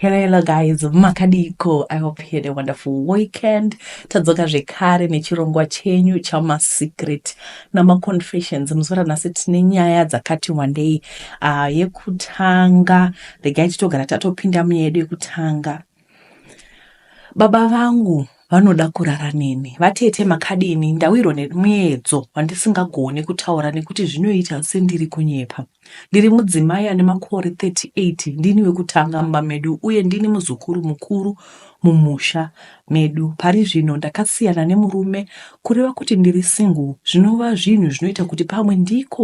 Hello, hello guys, makadiko. I hope you had a wonderful weekend. Tadzoka zvekare nechirongwa chenyu chamasecret namaconfessions. Muzuva ranhasi tine nyaya dzakati wandei. Uh, yekutanga, regai titogara tatopinda muyedu yekutanga. Baba vangu vanoda kurara neni vatete makadini ndawirwa nemuedzo wandisingagone kutaura nekuti zvinoita sendiri kunyepa Ndiri mudzimai ane makore 38, ndini wekutanga mumba medu uye ndini muzukuru mukuru mumusha medu. Pari zvino ndakasiyana nemurume, kureva kuti ndiri single, zvinova zvinhu zvinoita kuti pamwe ndiko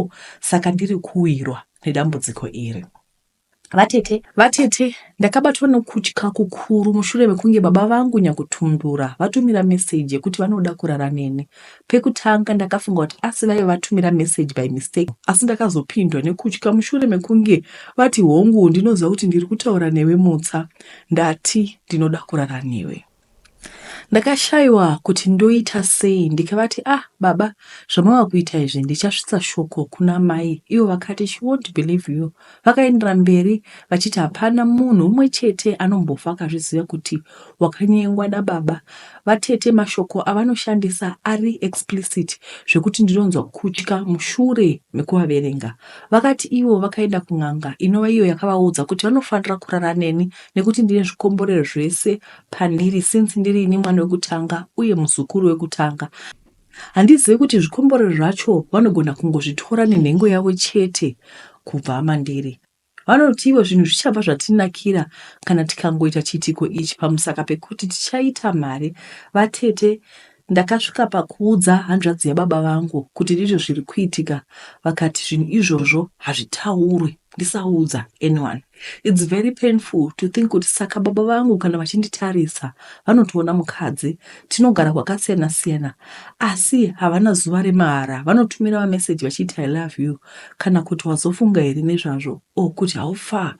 saka ndiri kuwirwa nedambudziko iri. Vatete. Vatete, ndakabatwa nokutya kukuru mushure mekunge baba vangu Nyakutundura vatumira message yekuti vanoda kurara neni. Pekutanga ndakafunga kuti asi vaive vatumira message by mistake asi ndakazopindwa nekutya mushure mekunge vati hongu ndinoziva kuti ndiri kutaura newe Mutsa ndati ndinoda kurara newe. Ndakashaiwa kuti ndoita sei ndikavati ah baba zvamava kuita izvi ndichasvitsa shoko kuna mai ivo vakati she won't believe you vakaendera mberi vachiti hapana munhu umwe chete anombofa akazviziva kuti wakanyengwa nababa vatete mashoko avanoshandisa ari explicit zvekuti ndinonzwa kutya mushure mekuvaverenga vakati ivo vakaenda kun'anga inova iyo yakavaudza kuti vanofanira kurara neni nekuti ndine zvikomborero zvese Pandiri since ndiri ini mwana wekutanga uye muzukuru wekutanga. Handizive kuti zvikomborero zvacho vanogona kungozvitora nenhengo yavo chete kubva mandiri. Vanoti ivo zvinhu zvichabva zvatinakira kana tikangoita chiitiko ichi pamusaka pekuti tichaita mari vatete Ndakasvika pakuudza hanzvadzi yababa vangu kuti ndizvo zviri kuitika vakati zvinhu izvozvo hazvitaurwe ndisaudza anyone. It's very painful to think kuti saka baba vangu kana vachinditarisa vanotoona mukadzi tinogara kwakasiyana siyana asi havana zuva remahara vanotumira mameseji vachiti I love you kana kuti wazofunga here nezvazvo. or kuti how far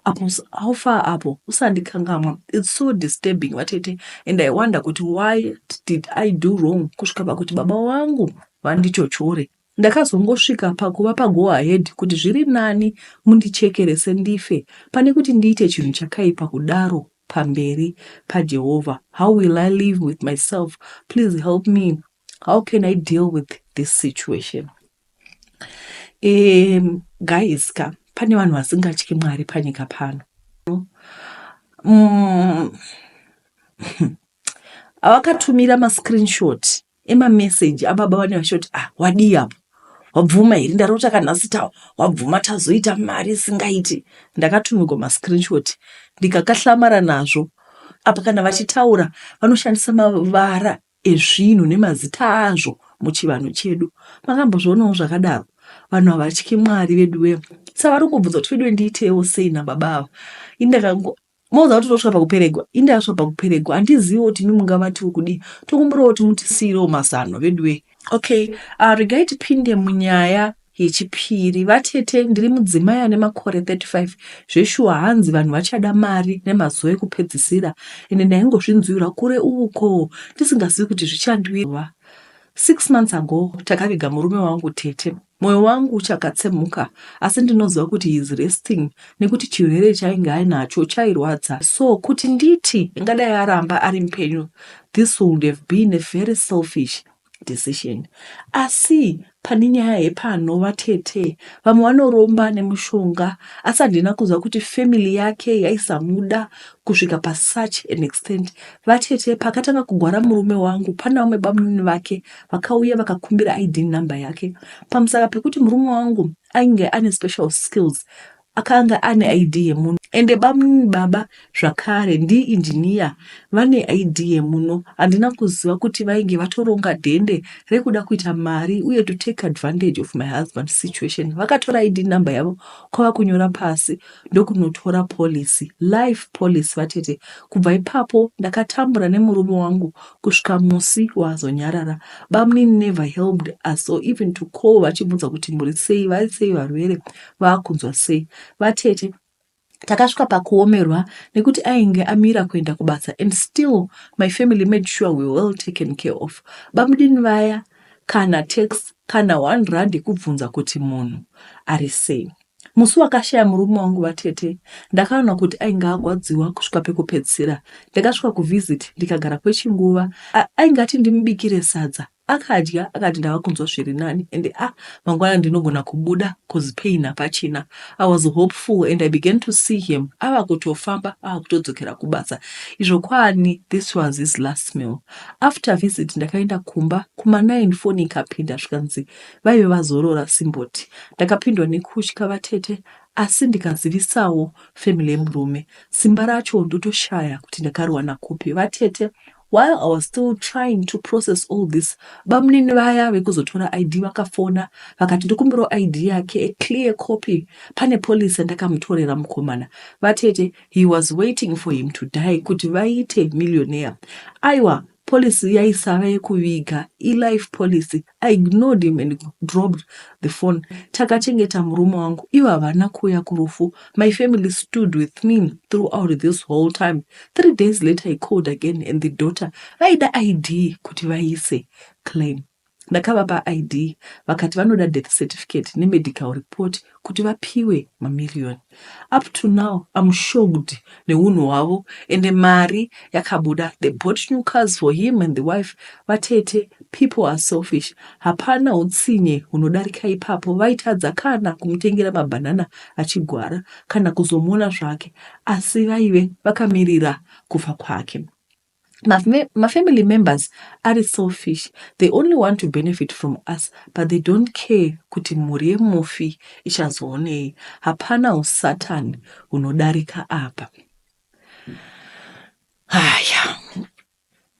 apo how far apo usandikangamwa it's so disturbing vatete and i wonder kuti why did i do wrong kusvika pakuti baba wangu vandichochore ndakazongosvika pakuva pago ahead kuti zviri nani mundichekerese ndife pane kuti ndiite chinhu chakaipa kudaro pamberi pajehovha how will i live with myself please help me how can i deal with this situation Um guys ka pane vanhu vasingatyi Mwari panyika pano. Um, vakatumira mascreenshot emameseji ababa vane vachoti ah wadii apo wabvuma here ndarota kanhasi tawa wabvuma tazoita mari isingaiti ndakatumigwa mascreenshot ndikakahlamara nazvo apa kana vachitaura vanoshandisa mavara ezvinhu nemazita azvo muchivanhu chedu makambozvionawo zvakadaro vanhu havatyi mwari veduwe savari kungobvunza kuti veduwe ndiitewo sei nababa ava indakango moza kuti tosvika pakuperegwa indasvika pakuperegwa handiziviwo kuti imi mungavatiwo kudii tokumbirawo kuti mutisiirewo mazano veduwe okay uh, regai tipinde munyaya Yechipiri, Vatete, ndiri mudzimai ane makore 35. Zveshuwa hanzi vanhu vachada mari nemazuva ekupedzisira ende ndaingozvinzwirwa kure uko ndisingazivi kuti zvichandiwira. Six months ago takaviga murume wangu tete. Moyo wangu uchakatsemhuka asi ndinoziva kuti he is resting nekuti chirwere chainge ainacho chairwadza so kuti nditi ingadai aramba ari mupenyu this would have been a very selfish decision asi pane nyaya hepano vatete vamwe vanoromba nemushonga asi handina kunzwa kuti family yake yaisamuda kusvika pasuch an extent vatete pakatanga kugwara murume wangu pana vamwe bamunini vake vakauya vakakumbira id number yake pamusaka pekuti murume wangu ainge ane special skills Akanga ane ID yemuno ende bamnn baba zvakare ndi engineer vane ID yemuno handina kuziva kuti vainge vatoronga dhende rekuda kuita mari uye to take advantage of my husband's situation vakatora ID number yavo kwavakunyora pasi ndokunotora policy life policy vatete kubva ipapo ndakatambura nemurume wangu kusvika musi waazonyarara bamnn never helped us or even to call vachibvunza kuti muri sei vari sei varwere vakunzwa sei vatete takasvika pakuomerwa nekuti ainge amira kuenda kubasa and still my family made sure we well taken care of bamudini vaya kana tax kana one rand yekubvunza kuti munhu ari sei musi wakashaya murume wangu vatete ndakaona kuti ainge agwadziwa kusvika pekupedzisira ndakasvika kuvisit ndikagara kwechinguva ainge ati ndimubikire sadza Akadya akati ndava kunzwa zviri nani and ah mangwana ndinogona kubuda coz pain hapachina. I was hopeful and I began to see him ava kutofamba ava kutodzokera kubasa izvo kwaani this was his last meal. After visit ndakaenda kumba kuma nine foni ikapinda zvikanzi vaive vazorora simboti. Ndakapindwa nekutya vatete asi ndikazivisawo family yemurume. Simba racho ndotoshaya kuti ndakariwana kupi vatete While I was still trying to process all this, bamunini vaya vekuzotora ID vakafona vakati ndokumbirawo ID yake, a clear copy, pane police yandakamutorera mukomana. Vatete, he was waiting for him to die kuti vaite millionaire. Aiwa, policy yaisava yekuviga, ilife policy, I ignored him and dropped the phone Takachengeta murume wangu ivo havana kuuya kurufu My family stood with me throughout this whole time Three days later he called again and the daughter vaida ID kuti vaise claim Ndakavapa ID vakati vanoda death certificate nemedical report kuti vapiwe mamillion up to now I'm shocked nehunhu hwavo ende mari yakabuda they bought new cars for him and the wife vatete people are selfish hapana hutsinye hunodarika ipapo vaitadza kana kumutengera mabanana achigwara kana kuzomuona zvake asi vaive vakamirira kufa kwake mafamily members ari selfish they only want to benefit from us but they don't care kuti mhuri yemufi ichazoonei hapana usatan hunodarika apa haya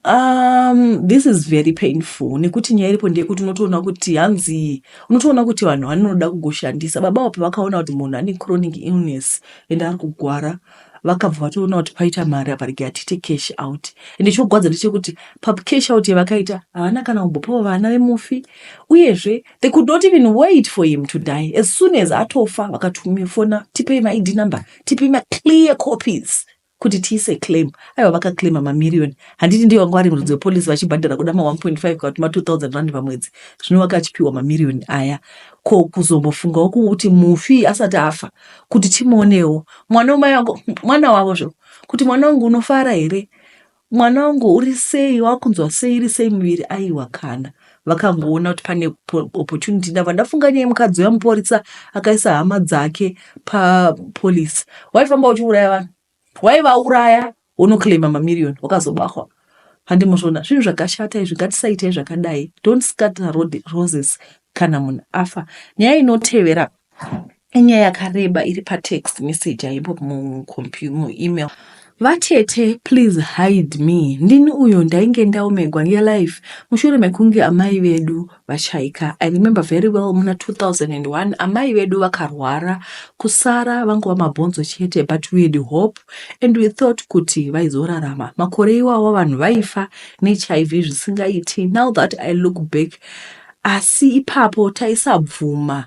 um this is very painful nekuti nyaya iripo ndeyekuti unotoona kuti hanzi unotoona kuti vanhu vanoda kugoshandisa baba apo vakaona kuti munhu ane chronic illness and ari kugwara vakabva vatoona kuti paita mari apa rege atiite cash out ende chogwadza ndechekuti pacash out yavakaita havana kana kumbopawo vana vemufi uyezve they could not even wait for him to die as soon as atofa vakatumifona tipei maid number tipei maclear copies kuti tiise claim aiwa vakaclaima mamiriyoni handiti ndiyo vanga vari murudzi wepolisi vachibhadhara kuda ma 1.5 kana kuti ma 2000 rand pamwedzi zvino vakachipiwa mamiriyoni aya ko kuzombofungawo kuti mufi asati afa kuti timuonewo mwana wamai vangu mwana wavo zvo kuti mwana wangu unofara here mwana wangu uri sei wakunzwa sei iri sei muviri aiwa kana vakangoona kuti pane opportunity ndava ndafunga nyaya mukadzi uya muporisa akaisa hama dzake papolice waifamba uchiuraya vanhu waivauraya wonoclaima mamiriyoni wakazobahwa handi muzvona zvinhu zvakashata izvi ngatisaitai zvakadai don't scatter road roses kana munhu afa nyaya inotevera inyaya yakareba iri patext message aipo muemail vatete please hide me ndini uyo ndainge ndaomegwa ngelife mushure mekunge amai vedu VaChaika, I remember very well muna 2001 amai vedu vakarwara kusara vangova mabhonzo chete but we had hope and we thought kuti vaizorarama. Makore iwawa vanhu vaifa neHIV zvisingaiti now that I look back asi ipapo taisabvuma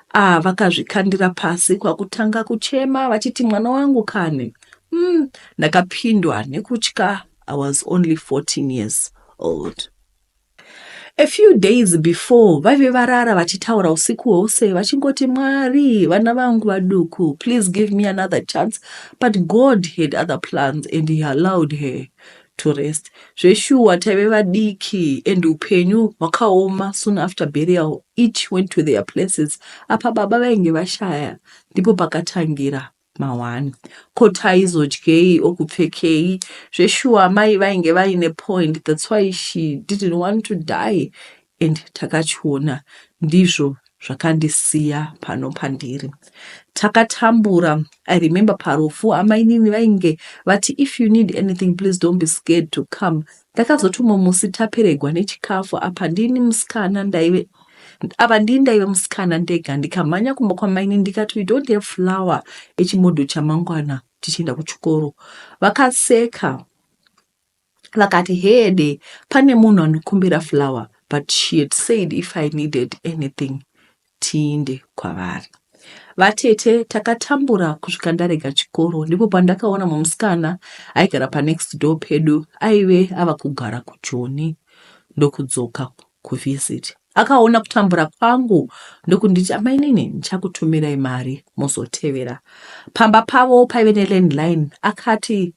Ah, vakazvikandira pasi kwakutanga kuchema vachiti mwana wangu kani. Mm, ndakapindwa nekutya I was only 14 years old. A few days before vaive varara vachitaura usiku hwose vachingoti Mwari vana vangu vaduku please give me another chance but God had other plans and he allowed her to rest zveshuwa taive vadiki and hupenyu hwakaoma soon after burial each went to their places apa baba vainge vashaya ndipo pakatangira mahwani ko taizodyei or kupfekei zveshuwa amai vainge vaine point that's why she didn't want to die And takachiona ndizvo zvakandisiya pano pandiri. Takatambura I remember parufu amainini vainge vati if you need anything please don't be scared to come. Ndakazoti umwe musi taperegwa nechikafu apa ndini musikana ndaive apa ndini ndaive musikana ndega ndikamhanya kumba kwamainini ndikati we don't have flower echimodho chamangwana tichienda kuchikoro. Vakaseka. vakati heede pane munhu anokumbira flower but she had said if i needed anything tiinde kwavari vatete takatambura kusvika ndarega chikoro ndipo pandakaona mumusikana aigara panext door pedu aive ava kugara kujoni ndokudzoka kuvisit akaona kutambura kwangu ndokunditi amainini ndichakutumirai mari mozotevera pamba pavo paive nelandline akati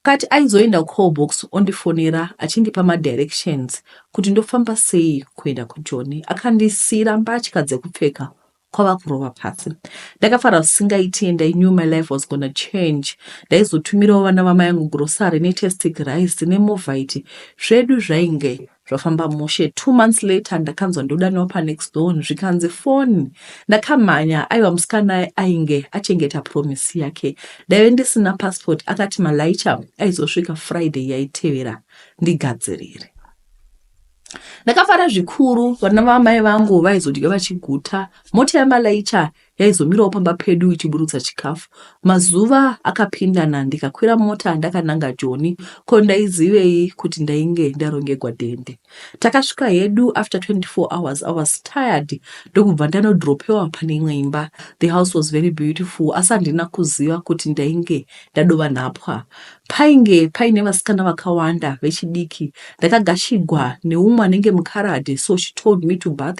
Kati aizoenda kucall box ondifonera achindipa madirections kuti ndofamba sei kuenda kujoni. Akandisiira mbatya dzekupfeka kwava kurova pasi. Ndakafara zvisingaiti and I knew my life was gonna change. Ndaizotumirawo vana vamai angu grocery netestic rice nemovite zvedu zvainge Zvafamba mushe two months later ndakanzwa ndodaniwa panext door zvikanzi foni ndakamhanya aiwa musikana ainge achengeta promise yake ndaive ndisina passport akati malaicha aizosvika friday yaitevera ndigadzirire ndakafara zvikuru vana vamai vangu vaizodya vachiguta mota yamalaicha yaizomirawo pamba pedu ichiburutsa chikafu. Mazuva akapindana ndikakwira mota ndakananga Joni ko ndaizivei kuti ndainge ndarongegwa dhende. Takasvika hedu after 24 hours I was tired ndokubva ndanodropewa pane imwe imba. The house was very beautiful asi handina kuziva kuti ndainge ndadova nhapwa. Painge paine vasikana vakawanda vechidiki. Ndakagashigwa neumwe anenge mukaradhi so she told me to bath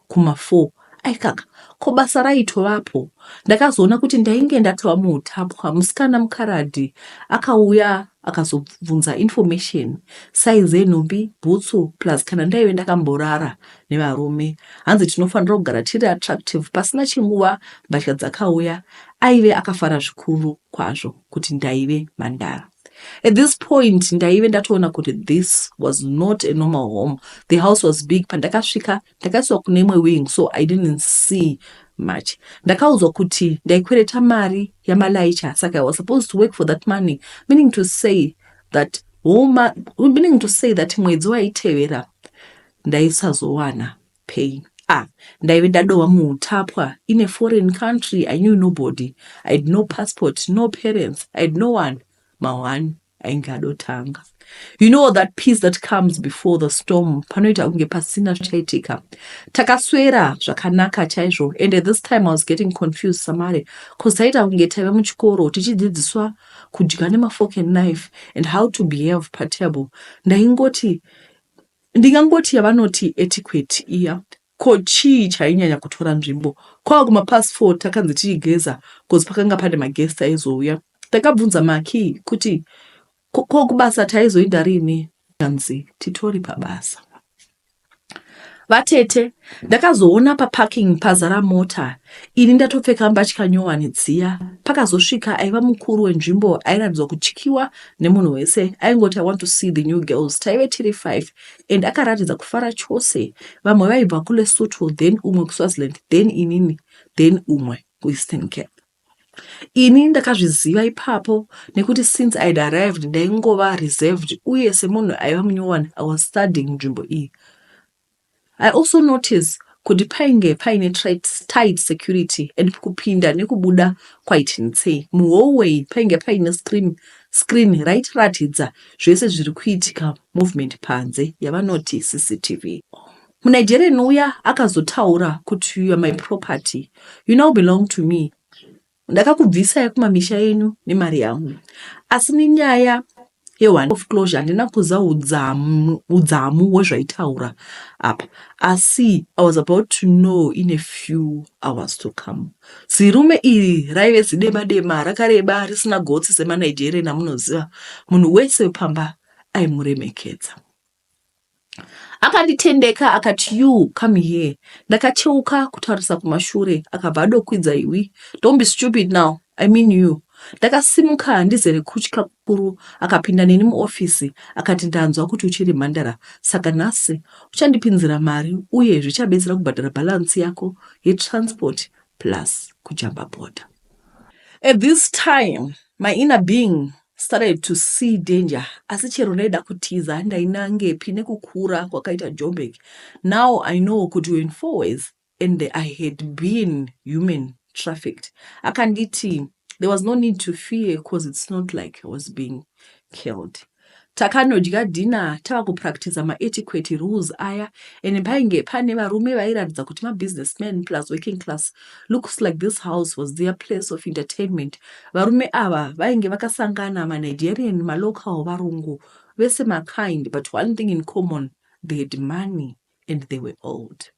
Kuma four aikaka ko basa raitovapo. Ndakazoona kuti ndainge ndatova muhutapwa musikana mukaradhi akauya akazobvunza information size yenhumbi, bhutsu plus kana ndaive ndakamborara nevarume. Hanzi tinofanira kugara tiri attractive pasina chinguva mbatya dzakauya. Aive akafara zvikuru kwazvo. kuti ndaive mhandara. At this point ndaive ndatoona kuti this was not a normal home. The house was big. Pandakasvika ndakaiswa kune imwe wing so I didn't see much. Ndakaudzwa kuti ndaikwereta mari yamalaicha saka I was supposed to work for that money meaning to say that homa, meaning to say that mwedzi waitevera ndaisazowana Pain ah ndaive ndadohwa muhutapwa in a foreign country I knew nobody I had no passport no parents I had no one mahwani ainge adotanga you know that peace that comes before the storm panoita kunge pasina zvichaitika takaswera zvakanaka chaizvo and at this time I was getting confused samare cause taita kunge taive muchikoro tichidzidziswa kudya nemafork and knife and how to behave patable ndaingoti Ndingangoti yavanoti etiquette iya ko chii chainyanya kutora nzvimbo kwava kumapast four takanzi tichigeza coz pakanga pane maguest aizouya. Ndakabvunza Makey kuti ko ko kubasa taizoinda rini zvikanzi titori pabasa. Vatete ndakazoona paparking pazara mota ini ndatopfeka mbatya nyowani dziya. Pakazosvika aiva mukuru wenzvimbo airatidzwa kutyiwa nemunhu wese aingoti i want to see the new girls taive tiri five and akaratidza kufara chose vamwe vaibva kulesotho then umwe kuswaziland then inini then umwe kueastern cap ini ndakazviziva ipapo nekuti since i had arrived ndaingova reserved uye semunhu aiva munyowani i was studying nzvimbo iyi I also notice kuti painge paine tight security and kupinda nekubuda kwaiti ntsee. Muhallway painge paine screen screen raitiratidza zvese zviri kuitika movement panze yavanoti cctv. MuNigerian uya akazotaura kuti you're my property, you now belong to me. Ndakakubvisai kumamisha enyu nemari yangu asi nenyaya yeone of closure handina kuza udzamu, udzamu wezvaitaura apa asi i was about to know in a few hours to come zirume iri raive zidema dema rakareba risina gotsi semanigerian amunoziva munhu wese wepamba aimuremekedza Akanditendeka akati you come here ndakacheuka kutarisa kumashure akabva adokwidza iwe don't be stupid now I mean you Ndakasimuka ndizere kutya kukuru akapinda neni muoffice akati ndanzwa kuti uchiri mhandara saka nhasi uchandipinzira mari uye zvichabetsera kubhadhara balance yako yetransport plus kujamba border. At this time my inner being Started to see danger asi chero ndaida kutiza handainangepi nekukura kwakaita Joburg. Now I know kuti we're in fourways and I had been human trafficked. Akanditi there was no need to fear cause it's not like I was being killed. Takanodya dinner tava kupractiza maetiquette rules aya and painge pane varume vairatidza kuti mabusinessman plus working class Looks like this house was their place of entertainment varume ava vainge vakasangana ma Nigerian ma local varungu vese ma kind but one thing in common they had money and they were old.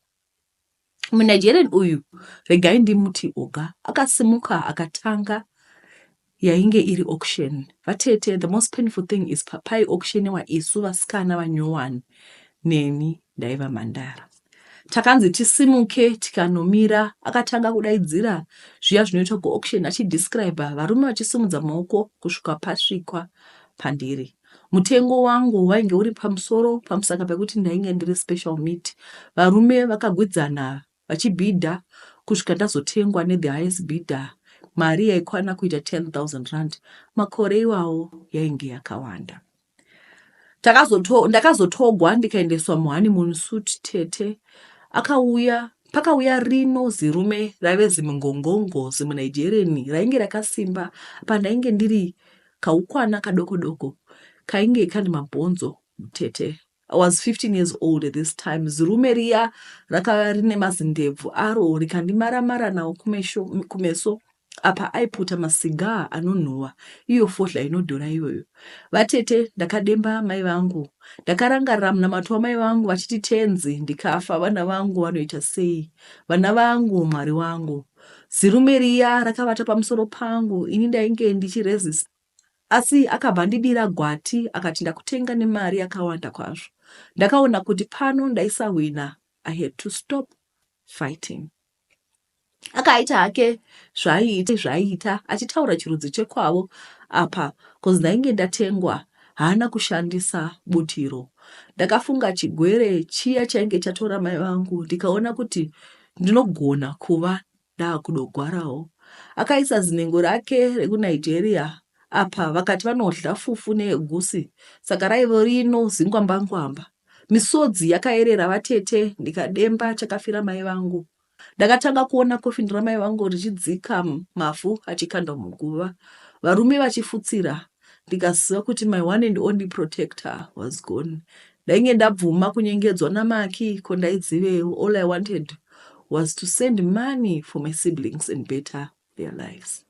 Mu Nigerian uyu regai ndimuti Oga akasimuka akatanga yainge iri auction vatete the most painful thing is papai auctionewa isu vasikana vanyowani neni ndaiva mhandara takanzi tisimuke tikanomira akatanga kudaidzira zviya zvinoitwa kuauction achidescribe varume vachisimudza maoko kusvika pasvikwa pandiri mutengo wangu wainge uri pamusoro pamusaka pekuti ndainge ndiri special meat varume vakagwidzana vachibhidha kusvika ndazotengwa ne the highest bidder mari yaikwana kuita R10,000 makore iwawo yainge yakawanda. Takazoto, ndakazotogwa ndikaendeswa muhoneymoon suit tete akauya pakauya rino zirume raive zimungongongo zimunaijereni rainge rakasimba pandainge ndiri kaukwana kadoko doko kainge kane mabhonzo mutete I was 15 years old at this time zirume riya rakava rine mazindebvu aro rikandimara-mara nawo kumesho, kumeso apa aiputa masigaa anonhuwa iyo fodhla inodhura iyoyo. Vatete ndakademba amai vangu. Ndakarangarira munamato wamai vangu vachiti tenzi ndikafa vana vangu vanoita sei? Vana vangu mwari wangu. Zirume riya rakavata pamusoro pangu ini ndainge ndichiresist Asi akabva andidira gwati akati ndakutenga nemari yakawanda kwazvo. Ndakaona kuti pano ndaisahwina I had to stop fighting. Akaita hake zvaiita zvaiita achitaura chirudzi chekwavo apa cause ndainge ndatengwa haana kushandisa butiro. Ndakafunga chigwere chiya chainge chatora mai vangu ndikaona kuti ndinogona kuva Ndaakudogwarawo akaisa zinhengo rake rekuNigeria apa vakati vanodhla fufu neegusi saka raivo rino zingwambangwamba. Misodzi yakaerera vatete ndikademba chakafira mai vangu. Ndakatanga kuona coffin ramai vangu richidzika mavhu achikandwa muguva varume vachifutsira ndikaziva kuti my one and only protector was gone ndainge ndabvuma kunyengedzwa namaki ko ndaidzivewo all i wanted was to send money for my siblings and better their lives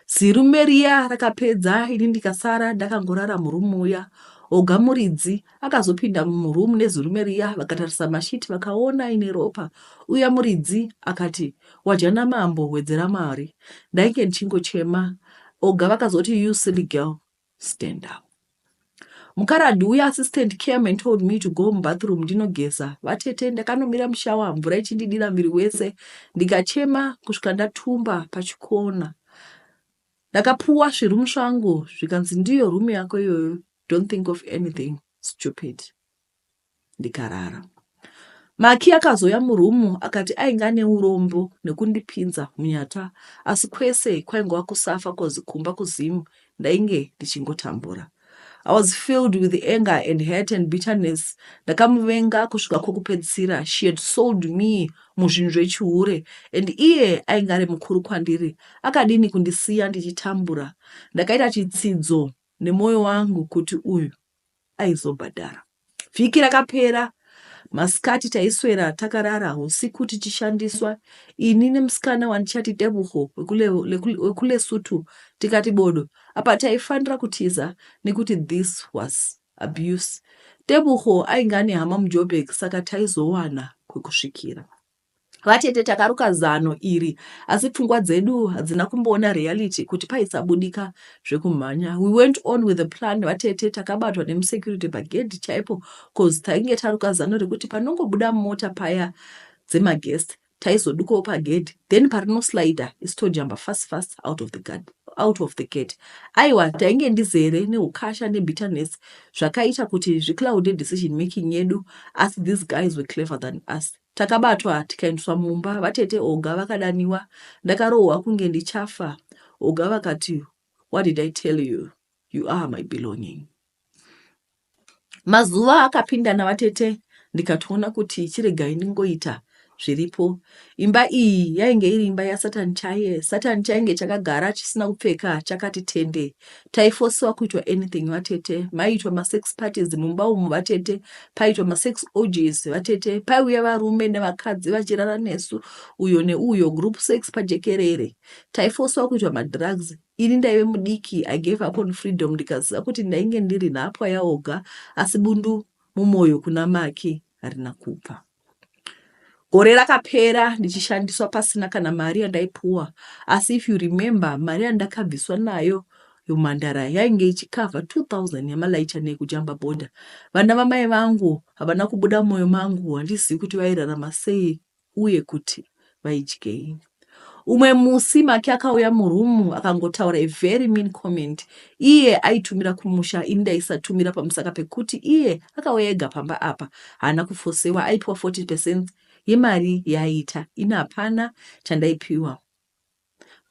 zirume riya rakapedza ini ndikasara ndakangorara murumu uya oga muridzi Akazopinda muroom nezirume riya vakatarisa masheet vakaona ine ropa uya muridzi akati wadya namambo wedzera mari ndainge ndichingochema oga vakazoti you silly girl stand up mukaradhi uya assistant came and told me to go mubathroom ndinogeza vatete ndakanomira mushawa mvura ichindidira miri wese ndikachema kusvika ndatumba pachikona Ndakapuwa zviroom zvangu zvikanzi ndiyo room yako iyoyo don't think of anything stupid ndikarara. Maki akazouya muroom akati ainge ane urombo nekundipinza hunyata asi kwese kwaingova kusafa coz kumba kuZim ndainge ndichingotambura. I was filled with anger and hurt and bitterness ndakamuvenga kusvika kwokupedzisira she had sold me muzvinhu zvechihure and iye ainge ari mukuru kwandiri akadini kundisiya ndichitambura ndakaita chitsidzo nemwoyo wangu kuti uyu aizobhadhara Vhiki rakapera masikati taiswera takarara husiku tichishandiswa ini nemusikana wandichati Tebuho wekuLesotho tikati bodo. Apa taifanira kutiza nekuti this was abuse. Tebuho ainge ane hama muJoburg saka taizowana kwekusvikira. Vatete takaruka zano iri asi pfungwa dzedu hadzina kumboona reality kuti paisabudika zvekumhanya. We went on with the plan vatete takabatwa nemusecurity pagedhi chaipo cause tainge taruka zano rekuti panongobuda mota paya dzemaguest taizodukawo pagedhi then parinoslider isu tojamba fast fast out of the guard out of the gate aiwa tainge ndizere neukasha nebitterness zvakaita kuti zvicloude decision making yedu asi these guys were clever than us Takabatwa tikaendeswa mumba vatete Olga vakadaniwa ndakarohwa kunge ndichafa Olga vakati what did I tell you you are my belonging Mazuva akapindana vatete ndikatoona kuti chiregai ndingoita zviripo imba iyi yainge iri imba yasatan chaiye satan chainge chakagara chisina kupfeka chakati tende Taifosiwa kuitwa anything vatete, maiitwa masex parties mumba umu vatete, paiitwa masex orgies vatete, paiuya varume nevakadzi vachirara nesu uyo neuyo, group sex pajekerere. Taifosiwa kuitwa madrugs, ini ndaive mudiki, I gave up on freedom ndikaziva kuti ndainge ndiri nhapwa yaOga asi bundu mumoyo kuna Maki harina kubva. Gore rakapera ndichishandiswa pasina kana mari yandaipuwa asi if you remember mari yandakabviswa nayo yomhandara yainge ichikavha 2000 yamalaicha nekujamba bhodha. Vana vamai vangu havana kubuda moyo mangu handizivi kuti vairarama sei uye kuti. vaidyei umwe musi maki akauya murumu akangotaura a very mean comment iye aitumira kumusha ini ndaisatumira pamusaka pekuti iye akauya ega pamba apa haana kufosewa aipiwa 40 percent yemari yaaita ini hapana chandaipiwa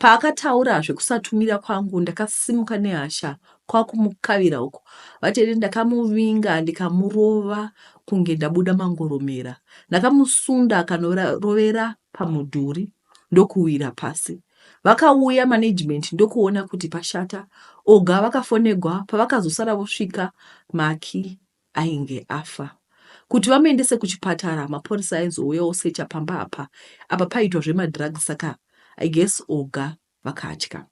Paakataura zvekusatumira kwangu ndakasimuka nehasha kwakumukavira uku vatete ndakamuvinga ndikamurova kunge ndabuda mangoromera. Ndakamusunda akanorovera pamudhuri ndokuwira pasi. Vakauya management ndokuona kuti pashata. Oga vakafonegwa pavakazosara vosvika Maki ainge afa. Kuti vamuendese kuchipatara mapurisa aizouya osecha pamba apa. Apa paiitwa zvemadrugs saka I guess Oga vakatya.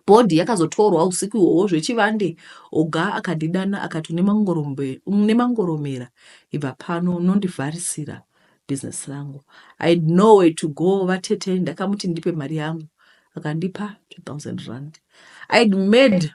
Body yakazotorwa usiku ihwohwo zvechivande. Oga akandidana akati une mangorombe, une mangoromera ibva pano unondivharisira business rangu. I had nowhere to go vatete ndakamuti ndipe mari yangu akandipa 2000 rand. I had made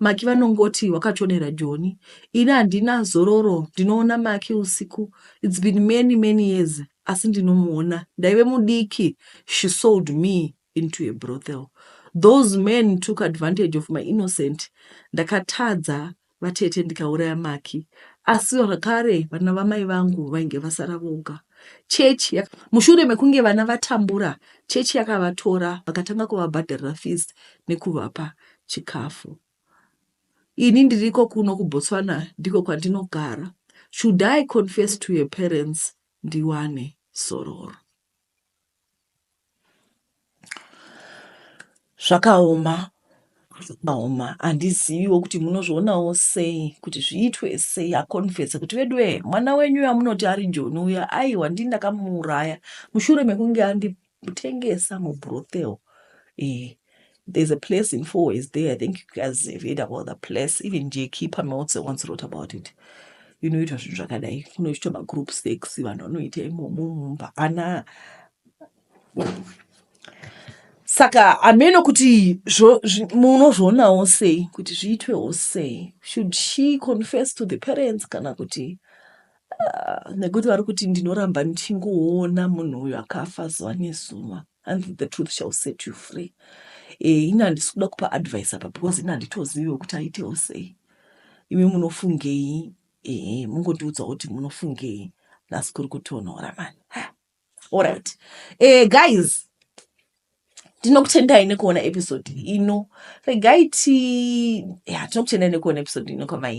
Maki vanongoti wakachonera Joni ini handina zororo ndinoona Maki usiku it's been many many years asi ndinomuona ndaive mudiki she sold me into a brothel those men took advantage of my innocent ndakatadza vatete ndikauraya Maki asi zvakare vana vamai vangu vainge vasara voga chechi mushure mekunge vana vatambura chechi yakavatora vakatanga kuvabhadharira fees nekuvapa chikafu. Ini ndiriko kuno kuBotswana ndiko kwandinogara. Should I confess to your parents ndiwane zororo? Zvakaoma, zvakaoma. Handiziviwo kuti munozvionawo sei kuti zviitwe sei akonfese kuti veduwe mwana wenyu yamunoti ari Joni uya aiwa ndini ndakamuuraya mushure mekunge andi Kutengesa mu brothel iyi there's a place in four ways there i think you guys have heard about the place even jeki pameltse once wrote about it inoitwa zvinhu zvakadai kunoitwa magroup sex vanhu vanoita imomo mumba ana saka hameno kuti munozvionawo sei kuti zviitwewo sei should she confess to the parents kana kuti Ah, nekuti vari kuti ndinoramba ndichingoona munhu uyu akafa zuva nezuva and the truth shall set you free eh, ini handisi kuda kupa advice apa because ini handitoziviwo kuti aitewo sei imi munofungei eh, mungondiudzawo kuti munofungei nhasi kuri kutonhora mani allright eh, guys tinokutendai nekuona episode ino regai ti ya tinokutendai nekuona episode ino kwamai